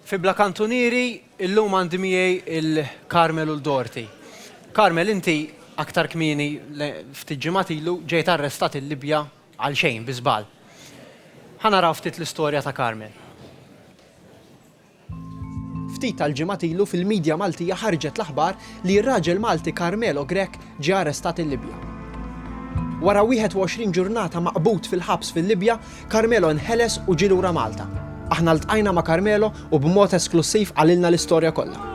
Fi Bla Kantunieri, illum għandi miegħi il Carmel u l-Dorothy. Carmel inti aktar kmieni ftit ġimgħat ilu ġejt arrestat il-Libja għal xejn bi żball. Ħa naraw ftit l-istorja ta' Carmel. Ftit tal-ġimgħat ilu fil-media Maltija ħarġet l-aħbar li r-raġel Malti Carmelo Grech ġie arrestat il-Libja. Wara 21 ġurnata maqbud fil-ħabs fil-Libja, Carmelo nħeles u ġie lura Malta. Aħna ltqajna ma' Carmelo u b'mod esklussiv qalilna l-istorja kollha.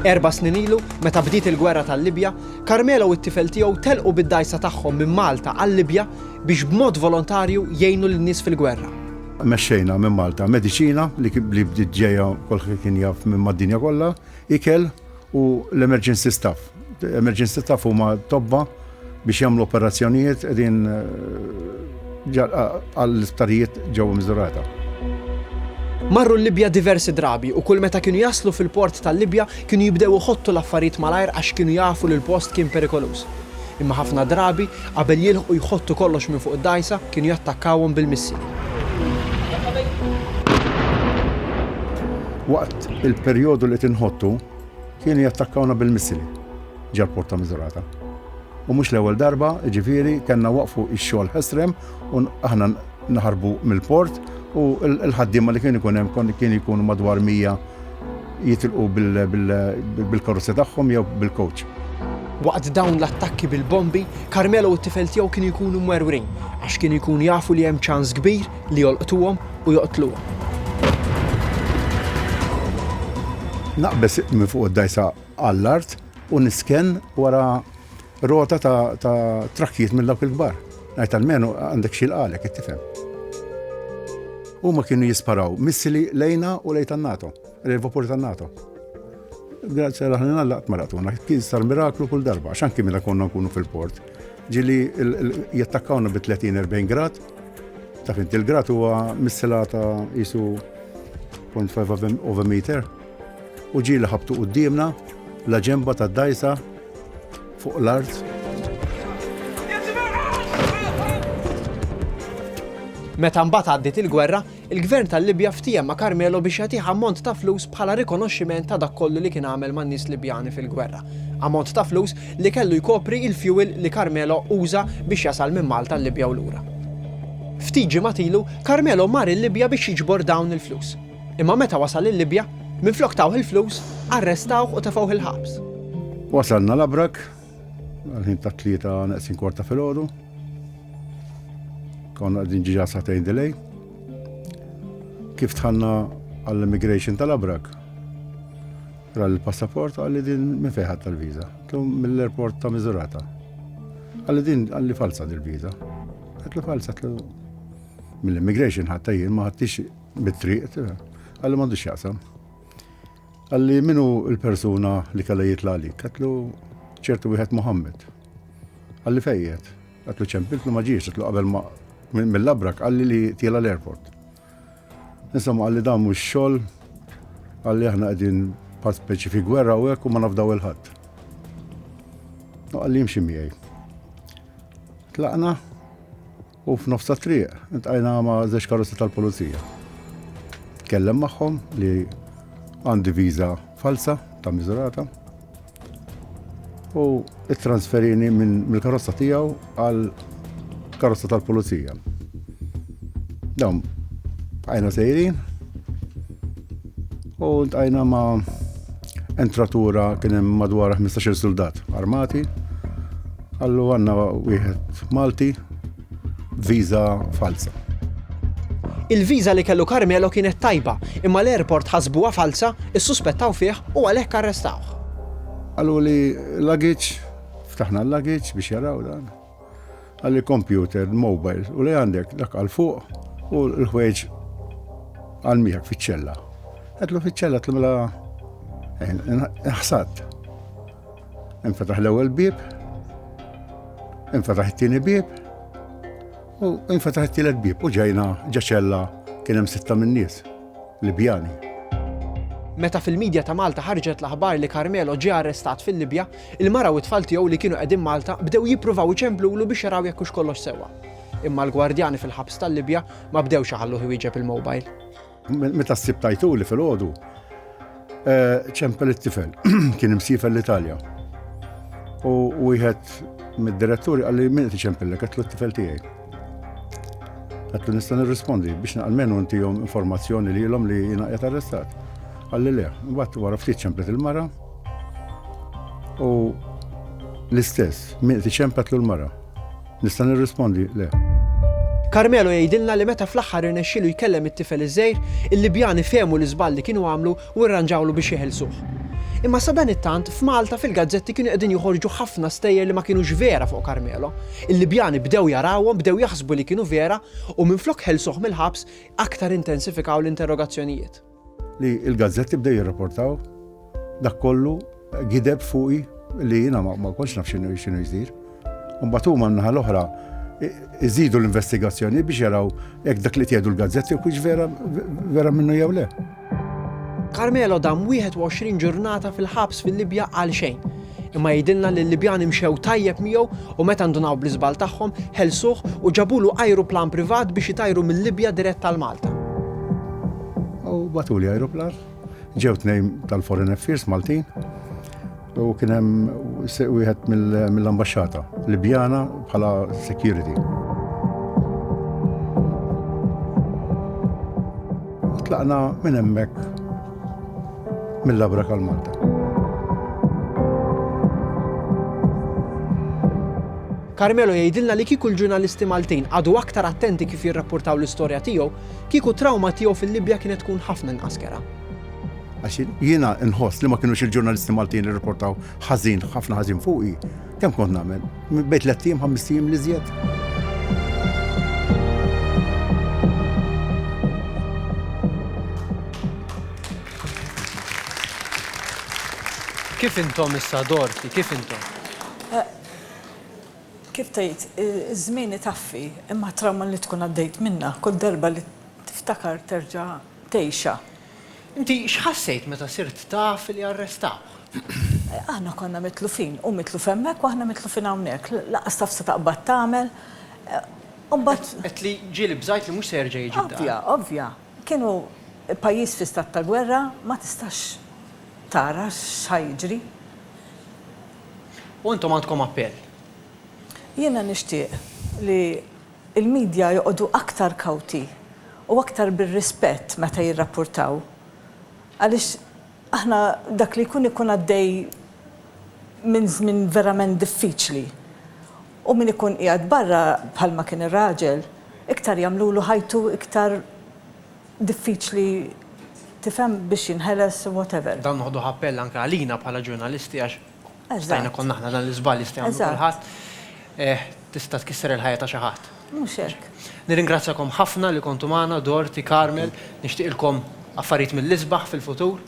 Erba' snin ilu, meta bdiet il-gwerra tal-Libja, Carmelo u t-tifel tiegħu telqu bid-dgħajsa tagħhom minn Malta għal-Libja biex b'mod volontarju jgħinu lin-nies fil-gwerra. Mexxejna minn Malta mediċina li bdiet ġejja kulħadd kien jaf minn mad-dinja kollha, ikel, u l-emergency staff. Emergency staff huma tobba biex jagħmlu operazzjonijiet qegħdin għall-isptarijiet ġewwa miżurata. Marru l-Libja diversi drabi u kull meta kienu jaslu fil-port tal-Libja kienu jibdew iħottu l-affarijiet malajr għax kienu jafu li l-post kien perikoluż. Imma ħafna drabi, qabel jilħqu jħottu kollox minn fuq id-dgħajsa, kienu jattakkawhom bil-missili. Waqt il-perjodu li qed inħottu, kienu jattakkawna bil-missili ġal-Porta Miżurata. U mhux l-ewwel darba, ġifieri, kellna waqfu x-xogħol ħesrem u aħna naħarbu mill-port u l-ħaddiema li kien ikun hemm kien ikunu madwar 100 jitilqu bil-karozza tagħhom jew bil-coach. Waqt dawn l-attakki bil-bombi, Carmelo u t-tifel tiegħu kienu jkunu mwerwrin għax kienu jkunu jafu li hemm ċans kbir li jolqtuhom u joqtluhom. Naqbes minn fuq id-dajsa għall-art u nisken wara Rota ta' ta' trakkijiet minn dawk il-kbar. Ngħid almenu għandek xi jilqalek, qed tifhem. Huma kienu jisparaw missili lejna u lejn tan-NATO, lejn il-vapuri tan-NATO. Grazzja l aħna nallaqt ma raqtuna, kien sar miraklu kull darba, għax anki meta konna nkunu fil-port. Ġili jattakkawna bi 30-40 grad, taf inti l-grad huwa missila ta' jisu 0.5 of a meter. U ġieli ħabbtu quddiemna, la ġenba tad-dgħajsa fuq l-art. Meta mbagħad għaddiet il-gwerra, il-Gvern tal-Libja ftiehem ma' Carmelo biex jagħtih ammont ta' flus bħala rikonoxximent ta' dak kollu li kien għamel man-nies Libjani fil-gwerra. Ammont ta' flus li kellu jkopri il-fuel li Carmelo uża biex jasal minn Malta l-Libja u lura. Ftit ġimgħat ilu, Carmelo mar il-Libja biex jiġbor dawn il-flus. Imma meta wasal il-Libja, minflok tawh il-flus, arrestawh u tefgħuh il-ħabs. Wasalna l-Abrak, għal-ħin ta' tlieta neqsin kwarta fil-ħodu. Konna għadin ġiġa satejn delay. Kif tħanna għall-immigration tal-Abrak, ra l-passaport għalli din minn fejħat tal-viza. Tum mill-airport ta' Mizurata. Għalli din għalli falsa dil-viza. Għatlu falsa, għatlu mill-immigration ħatta jien ma ħattix Mit-triq, għalli m'għandux jaqsam. Għalli minu il-persuna li kalla jitla għalik, għatlu ċertu wieħed Muhammed. Għalli fejjet, għatlu ċempiltlu maġiex, għatlu qabel ma mill-labrak għalli li tila l-airport. Insomma għalli dan mux xol, għalli aħna għedin pat speċi fi gwerra u għek u ma nafdaw il-ħadd. Għalli jimxi miegħi. Tlaqna, U f'nofs tat-triq intqajna ma' żewġ karozzi tal-pulizija. Tkellem magħhom li għandi viża falsa ta' miżurata u it-transferini minn mill-karozza tiegħu għal karozza tal-pulizija. Dawn bqajna sejrin u ntqajna ma' entratura kien hemm madwar 15-il suldat armati Allu għanna wieħed Malti viża falza. Il-viża li kellu Carmelo kienet tajba, imma l-airport ħasbuha falza, issuspettaw fih u għalhekk arrestawh. Qalu li l-luggage, ftaħna l-luggage biex jaraw dan. Għalli computer, mobile, u li għandek dak għal fuq u l-ħweġ għal miegħek fiċ-ċella. Għedlu fiċ-ċella tlimla eh, ħsad. Infetaħ l-ewwel bieb, infetaħ it-tieni bieb, u infetaħ it-tielet bieb u ġejna ġaċella kien hemm sitta minn nies Libjani. Meta fil-medja ta' Malta ħarġet l-aħbar li Carmelo ġie arrestat fil-Libja, il-mara u t-tfal tiegħu li kienu qegħdin Malta bdew jippruvaw iċemplulu biex jaraw jekk hux kollox sewwa. Imma l-gwardjani fil-ħabs tal-Libja ma bdewx iħalluh iwieġeb il-mobile. Meta ssib tajtuli fil-ħodu, eh, ċempel it-tifel, kien imsifel l-Italja. U wieħed mid-diretturi għalli minn qed iċempillek għatlu t-tifel tiegħi. Għatlu nista' nirrispondi biex naqalmenu ntihom informazzjoni li l-om li jina qed arrestat. Għalli le, mbagħad wara ftit ċemplet il-mara u l-istess, minn qed iċempetlu l-mara. Nista' nirrispondi? Le. Carmelo jgħidilna li meta fl-aħħar irnexxielu jkellem it-tifel iż-żgħir, il-Libjani fehmu l-iżball li kienu għamlu u rranġawlu biex jeħilsuh. Imma sadanittant, f'Malta fil-gazzetti kienu qegħdin joħorġu ħafna stejjer li ma kinux vera fuq Carmelo. Il-Libjani bdew jarawhom, bdew jaħsbu li kienu vera u minflok ħelsuh mill-ħabs, aktar intensifikaw l-interrogazzjonijiet. Li l-gazzetti bdew jirrapportaw dak kollu gideb fuqi li jiena ma kontx naf x'inhu x'inhu jsir. Mbagħad huma n-naħa l-oħra iżidu l-investigazzjoni biex jaraw jekk dak li tgħidu l-gazzetti kux vera vera minnu jew le. Carmelo dam 21 ġurnata fil-ħabs fil-Libja għal xejn. Imma jgħidilna li l-Libjani mxew tajjeb miegħu u meta ndunaw bl-iżball tagħhom, ħelsuh u ġabulu ajruplan privat biex itajru mil-Libja dirett għal Malta. U bagħtuli ajruplan, ġew tnejn tal-Foreign Affairs Maltin u kien hemm wieħed mill-ambaxxata Libjana bħala security. tlaqna minn hemmhekk Mill-Abra Kal Malta. Carmelo jgħidilna li kieku l-ġurnalisti Maltin qagħdu aktar attenti kif jirrappurtaw l-istorja tiegħu, kieku trawma tiegħu fil-Libja kienet tkun ħafna inqas kera. Għax jiena nħoss li ma kienux il-ġurnalisti Maltin irrapportaw ħażin ħafna ħażin fuqi, Kemm kont nagħmel? Bejn tliet ijiem, ħamest ijiem l-iżjed. Kif intom issa dorti? Kif intom? Kif tgħid, iż-żmien itaffi, imma t-trawma li tkun għaddejt minnha kull darba li tiftakar terġa' tgħixha. Inti x'ħassejt meta sirt taf li arrestawh? Aħna konna mitlufin, hu mitluf hemmhekk u aħna mitlufin hawnhekk. Lanqas taf se taqbad tagħmel. U mbagħad. Għedt li ġieli bżajt li mhux se jerġa' jiġi d-dar. Ovvja, ovvja. Kienu pajjiż fi stat ta' gwerra, ma tistax tara x'ħa jiġri. U intom għandkom appell? Jiena nixtieq li Il-midja joqogħdu aktar kawti u aktar bir-rispett meta jirrappurtaw għaliex aħna dak li jkun ikun għaddej minn żmien verament diffiċli u min ikun qiegħed barra bħalma kien ir-raġel iktar jagħmlulu ħajtu iktar diffiċli tifhem biex jinħeles u whatever. Dan noħduh appell anke għalina bħala ġurnalisti għax Stajna konna aħna dan l-iżball jista' jagħmlu kulħadd. Eh, tista' tkisser il-ħajja ta' xi ħadd. Mhux hekk. Nirringrazzjakom ħafna li kontu magħna, Dorti, Carmel, nixtieqilkom affarijiet mill-isbaħ fil-futur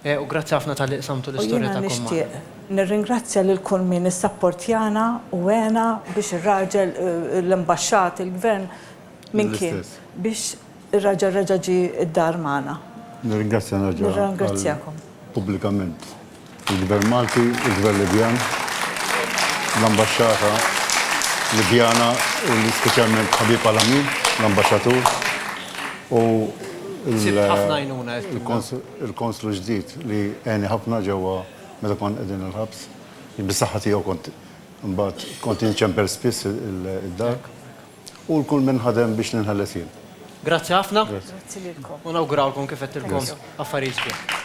eh, u grazzi ħafna tal-li qsamtu l-istorja ta' nixtieq. Nirringrazzja lil kull min issapportjana u għena biex ir-raġel eh, l-imbaxxat, il-gvern minn kien biex Ir-raġel reġa' ġie d-dar magħna. Nirringrazzja nerġa' Nirringrazzjakom. pubblikament il-Gvern Malti, il-Gvern Libjan, l-Ambaxxata Libjana u speċjalment ħabib għal-għami, l-Ambaxxatur, u l, Sibt ħafna għajnuna, għedt lilna. il-Konslu ġdid li għeni ħafna ġewwa meta konna qegħdin il-ħabs. Bis-saħħa tiegħu kont imbagħad kont inċempel spiss id-dar. U l-kull min ħadem biex ninħeles jien. Grazzi ħafna. Grazzi lilkom. U nawgurawlkom kif għedtilkom affarijiet sbieħ.